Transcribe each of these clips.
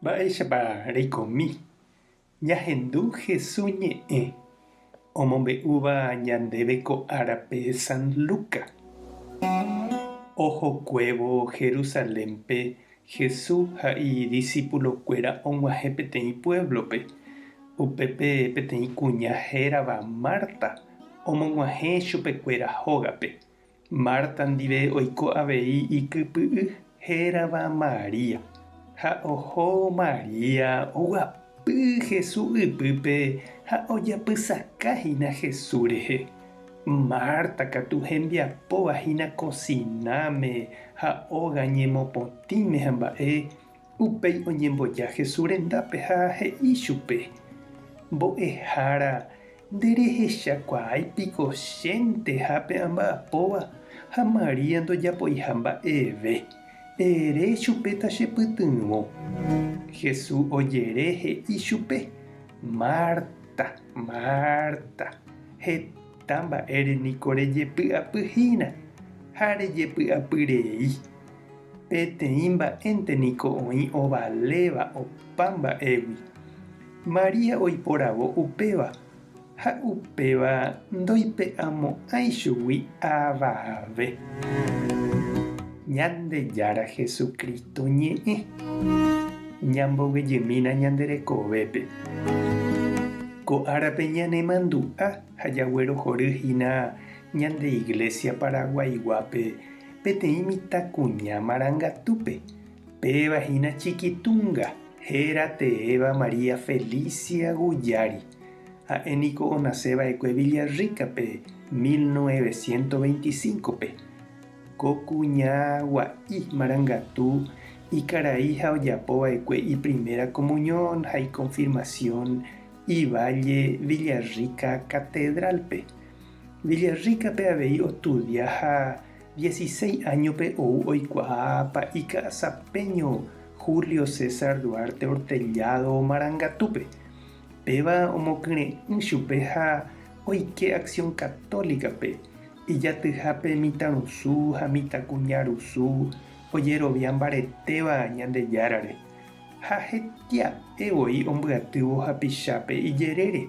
Mba'éichapa reikomi ñahendu Jesús ñe'ẽ omombe'úva ñandéve ko árape San Luca? Ohokuévo Jerusalénpe Jesús ha idisipulokuéra og̃uahẽ peteĩ puévlope. Upépe peteĩ kuña hérava Marta omog̃uahẽ chupekuéra hógape. Marta ndive oiko avei ikypy'y hérava María. Ha oho María oguapy Jesús ypýpe ha ojapysaka hína Jesús rehe. Marta katu hembiapóva hína kosináme ha óga ñemopotĩme hamba'e Upéi oñemboja Jesús rendápe ha he'i chupe, Mbo'ehára, nderehechakuaái piko chéntehápe amba'apóva ha María ndojapoiha mba'eve. Ere chupe tachepytyvõ. Jesús ojere he'i chupe, Marta, Marta, heta mba'ére niko rejepy'apyhína ha rejepy'apyrei. Peteĩ mba'énte niko oĩ ovaléva opa mba'égui. María oiporavo upéva, ha upéva ndoipe'amo'ãi chugui avave. Ñandejára Jesucristo ñe'ẽ. Ñamboguejymína ñande rekovépe. Ko árape ñanemandu'a ha jaguerohory hína ñande Iglesia Paraguaiguápe. peteĩ mitãkuña marangatúpe, péva hína Chiquitunga, héra teéva María Felicia Guyari. Ha'e niko onase va'ekue Villarrica-pe 1925-pe. Ko kuña gua'i marangatu ikarai ha ojapo va'ekue iprimera komuñon ha ikonfirmasión iválle Villarrica Katedrálpe. Villarrica-pe avei ostudia ha dieciséis áñope ou oikuaa pa'i ka'asapeño Julio César Duarte Hortellado Marangatúpe. Péva omokyre'ỹ chupe ha oike Acción Católica-pe, ijatyhápe mitãrusu ha mitãkuñarusu ojerovia mbaretéva Ñandejárare, ha hetia'e voi ombyatývo hapichápe ijerére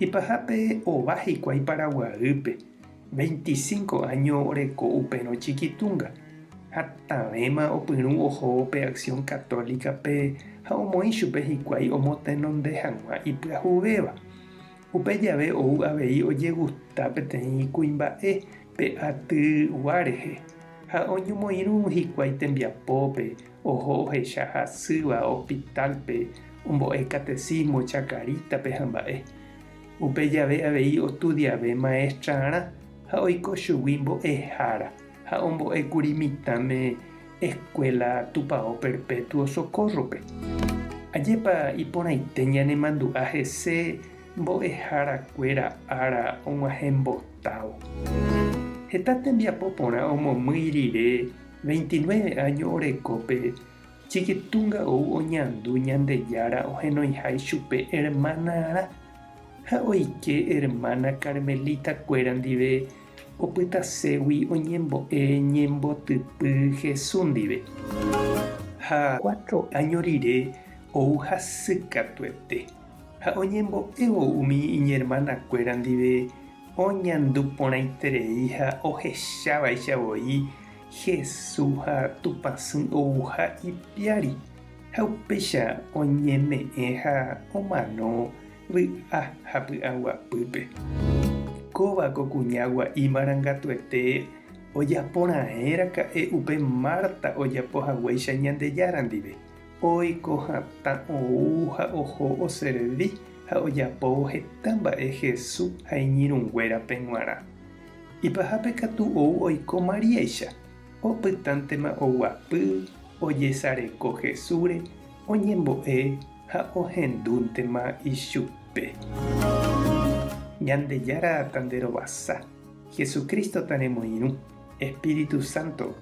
Ipahápe ova hikuái Paraguaýpe, veinticinco áño oreko upérõ Chiquitunga, ha tavẽma opyrũ ohóvo pe Acción Católica-pe ha omoĩ chupe hikuái omotenonde hag̃ua ipyahuvéva. Upe jave ou avei ojegusta peteĩ kuimba'e pe aty gua rehe ha oñomoirũ hikuái tembiapópe Oho ohecha hasýva hospital-pe ombo'e catecismo Chacarita-pe hamba'e. Upe jave avei ostudiave maestrarã ha oiko chugui mbo'ehára ha ombo'ékuri mitãme Escuela Tupao Perpetuo Socorro-pe. Ajépa iporãite ñanemandu'a hese mbo'eharakuéra ára og̃uahẽmbotávo! Heta tembiapo porã omomýi rire Veintinueve áño oreko pe Chikitunga ou oñandu Ñandejára ohenoiha ichupe ermánarã ha oike ermána karmelitakuéra ndive opytaségui oñembo'e ñembotypy Jesús ndive. Ha cuatro áño rire ou hasykatuete ha oñembo'évo umi iñermanakuéra ndive Oñandu porãiterei ha ohechavaicha voi Jesús ha Tupã Sy ouha ipiári, ha upéicha oñeme'ẽ ha omano vy'a ha py'aguapýpe. Kóva ko kuña gua'i marangatuete ojaporãe raka'e upe Marta ojapohaguéicha Ñandejára ndive. Oiko hatã ou ha oho oservi ha ojapóvo heta mba'e Hesu ha iñirũnguérape g̃uarã. Ipahápe katu ou oiko Maríaicha, opytántema oguapy ojesareko Hesúre oñembo'e ha ohendúntema ichupe. Ñandejára tanderovasa, Jesucristo taremoirũ, Espíritu Santo